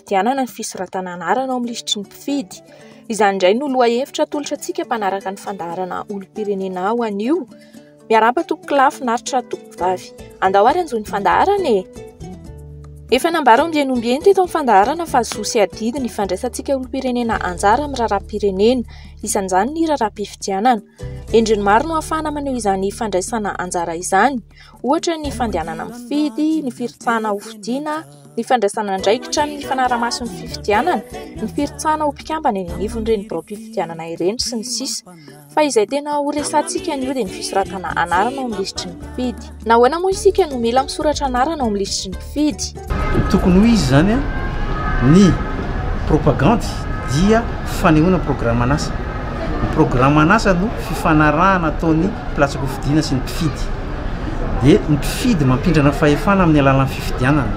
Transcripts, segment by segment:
fifidianana ny fisoratana anarana ao amin'ny lisitry ny mpifidy. Izany indray no lohahevitra atolotra antsika mpanaraka ny fandaharana olom-pirenena ho anio. Miarahaba tompoko lahy finaritra tompoko vavy. Andao ary hanjohy ny fandaharana e! Efa nambara ombieny ombieny teto amin'ny fandaharana fa zo sy adidy ny fandraisantsika olom-pirenena anjara amin'ny raharaham-pirenena, isan'izany ny raharaham-pifidianana. Endriny maro no ahafahana maneho izany fandraisana anjara izany, ohatra ny fandehanana mifidy, ny firotsahana hofidiana, ny fandraisana andraikitra amin'ny fanarahamaso ny fifidianana, ny firotsahana ho mpikambana eny anivon'ireny biraom-pifidianana ireny sy ny sisa Fa izay tena ho resahantsika anio dia ny fisoratana anarana ao amin'ny lisitry ny mpifidy. Nahoana moa isika no mila misoratra anarana ao amin'ny lisitry ny mpifidy? Tokony ho izy izany an! Ny propagandy dia fanehoana programan'asa. Ny programan'asa no fifanarahana ataon'ny mpilatsa-pifidiana sy ny mpifidy. dia ny mpifidy mampindrana fahefana amin'ny alalan'ny fifidianana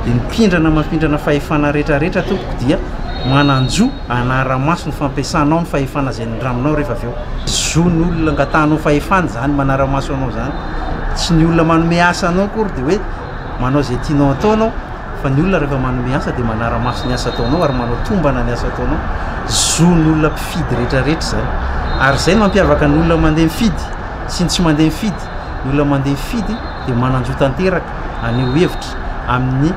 dia ny mpindrana mampindrana fahefana rehetra rehetra tompoko dia mananjo anaramaso ny fampiasanao ny fahefana izay nindramnao rehefa avy eo zo ny olona ngatahnao fahefana izany manaramaso anao izany tsy ny olona manome asa anao kory dia hoe manao izay tianao ataonao fa ny olona rehefa manome asa dia manaramaso ny asa ataonao ary manao tombana ny asa ataonao zo ny olona mpifidy rehetra rehetra izany ary izay mampiavaka ny olona mandeha mifidy sy ny tsy mandeha mifidy, ny olona mandeha mifidy dia manan-jo tanteraka haneho hevitra amin'ny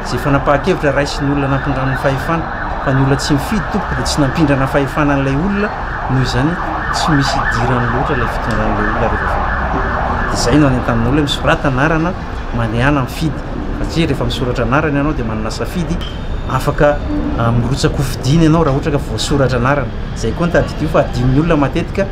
izay fanapahan-kevitra raisin'ny olona nampindrany ny fahefana, fa ny olona tsy mifidy tompoko dia tsy nampindrana fahefana an'ilay olona, noho izany tsy misy idirany loatra ilay fitondran'ilay olona rehefa avy eo. Izay no anentanana olona hoe misorata anarana mandehana mifidy, satria rehefa misoratra anarana ianao dia manana safidy, afaka mirotsa-kofidina ianao raha ohatra ka voasoratra anarana. Izay koa no tadidio fa adinon'ny olona matetika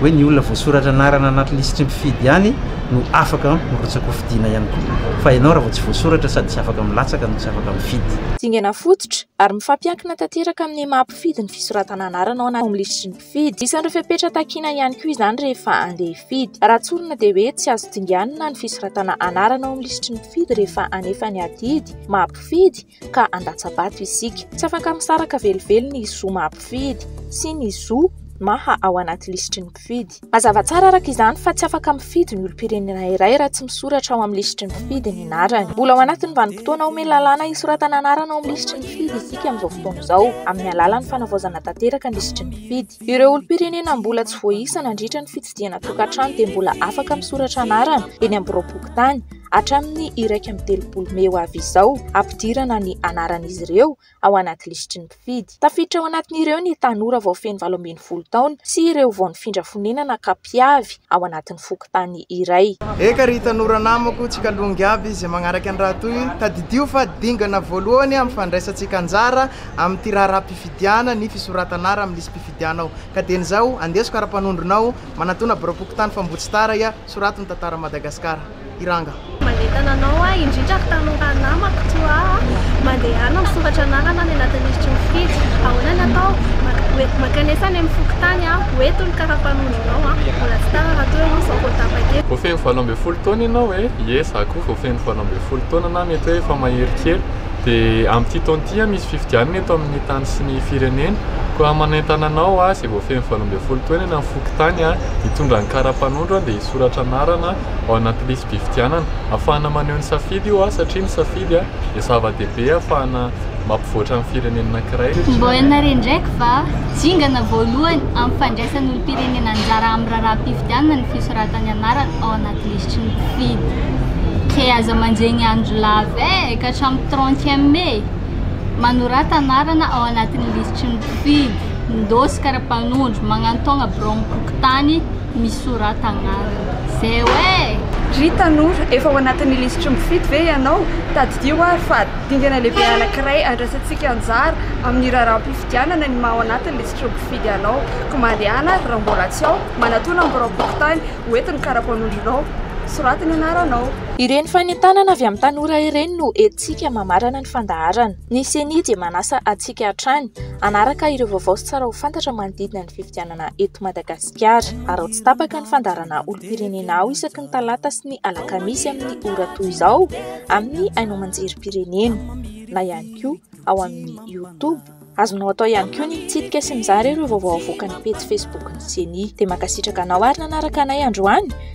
hoe ny olona voasoratra anarana anaty lisitry ny mpifidy ihany no afaka mirotsa-kofidina ihany koa. Fa ianao raha vao tsy voasoratra sady tsy afaka milatsaka no tsy afaka mifidy. Dingana fototra ary mifampiankina tanteraka amin'ny maha-mpifidy ny fisoratana anarana ao amin'ny lisitry ny mpifidy. Tsy diso an'ireo fepetra takiana ihany koa izany rehefa handeha hifidy. Raha tsorina dia hoe tsy azo dinganina ny fisoratana anarana ao amin'ny lisitry ny mpifidy rehefa hanefa ny adidy maha mpifidy ka handatsa-bato isika. Tsy afaka misaraka velively ny zo maha mpifidy sy ny zo maha ao anaty lisitry ny mpifidy. Mazava tsara araka izany fa tsy afaka mifidy ny olom-pirenena iray raha tsy misoratra ao amin'ny lisitry ny mpifidy ny anarany. Mbola ao anatin'ny vanim-potoana omeny lalàna hisoratana anarana ao amin'ny lisitry ny. mpifidy isika amin'izao fotoana izao, amin'ny alalan'ny fanavaozana tanteraka ny lisitry ny mpifidy. Ireo olom-pirenena mbola tsy voaisa nandritra ny fitsidihana tokantrano dia mbola afaka misoratra anarana eny amin'ny biraom-pokontany, hatramin'ny iraika amby telopolo mey ho avy izao, hampidirana ny anaran'izy ireo ao anaty lisitry ny mpifidy. Tafiditra ao anatin'ireo ny tanora vao feno valo ambin'ny folo taona sy ireo vao nifindra fonenana, cap. mpiavy ao anatin'ny fokontany iray. Eka ry tanora namako, tsikalongy aby izay magnaraka ny raha toy, tadidio fa dingana voalohany amin'ny fandraisantsika anjara amin'ity raharaham-pifidiana ny fisoratan'ara amin'ny lisi-pifidianao. Ka dieny izao, andeso karapanondronao, manatona birao-pokontany Fambotsitaraia, sorato ny tantaran'i Madagasikara. i ranga. Manentana anao aho indrindra ry tanora namako toa ahy, mandehana misoratra anarana any anatin'ny hiritry ny fijo. Ahoana ny atao? Mankanesa any amin'ny fokontany aho, ho eto ny kara-panondronao an! Mbola tsy tara raha toa ianao izao vao tapaka eto. Voafehin'ny valo ambin'ny folo taona ianao e? Ie, izaho koa voafehin'ny valo ambin'ny folo taona na mety hoe efa mahery kely. Dia amin'ity taona ity an, misy fifidianana eto amin'ny tany sy ny firenena. Koa manentana anao aho izay voafehin'ny valo ambin'ny folo taona eny amin'ny fokontany an, hitondra ny kara-panondro an, dia hisoratra anarana ao anaty lisi-pifidianana. Ahafahana maneho ny safidy io satria ny safidy dia zava-dehibe ahafahana mampivoatra ny firenena anankiray. Mba ianareo indraiky va? Dingana voalohany amin'ny fandraisan'ny olom-pirenena anjara amin'ny raharaham-pifidianana ny fisoratany anarana ao anaty lisitry ny mpifidy. Kay aza manjegny andro lava e! Ka hatramin'ny trente e mai, manorata anarana ao anatin'ny lisitry ny mpifidy, mindôsy kara-panondro, magnantaogna biraon'ny fokontany, misorata agnarana zeo eh! Ry tanora, efa ao anatin'ny lisitry ny mpifidy ve ianao? Tadidio ary fa dingana lehibe anankiray andraisantsika anjara amin'ny raharaham-pifidianana ny maha ao anatin'ny lisitry ny mpifidy anao. Koa mandehana ary raha mbola tsy ao, manatò na miraom-pokontany ho entin'ny kara-panondronao. Soraty ny anaranao. Ireny fanentanana avy amin'ny tanora ireny no entintsika mamarana ny fandaharana. Ny Ceni dia manasa antsika hatrany hanaraka ireo vaovao sy tsara ho fantatra manodidina ny fifidianana eto Madagasikara. Madagasikara. Araho tsy tapaka ny fandaharana olom-pirenena ao isaky ny talata sy ny alakamisy amin'ny ora toy izao amin'ny haino aman-jerim-pirenena na ihany koa ao amin'ny youtube. Azonao atao ihany koa ny mitsidika sy mizara ireo vaovao avoakan'ny pejy facebook ny ceni. Dia mankasitraka anao ary nanaraka anay androany.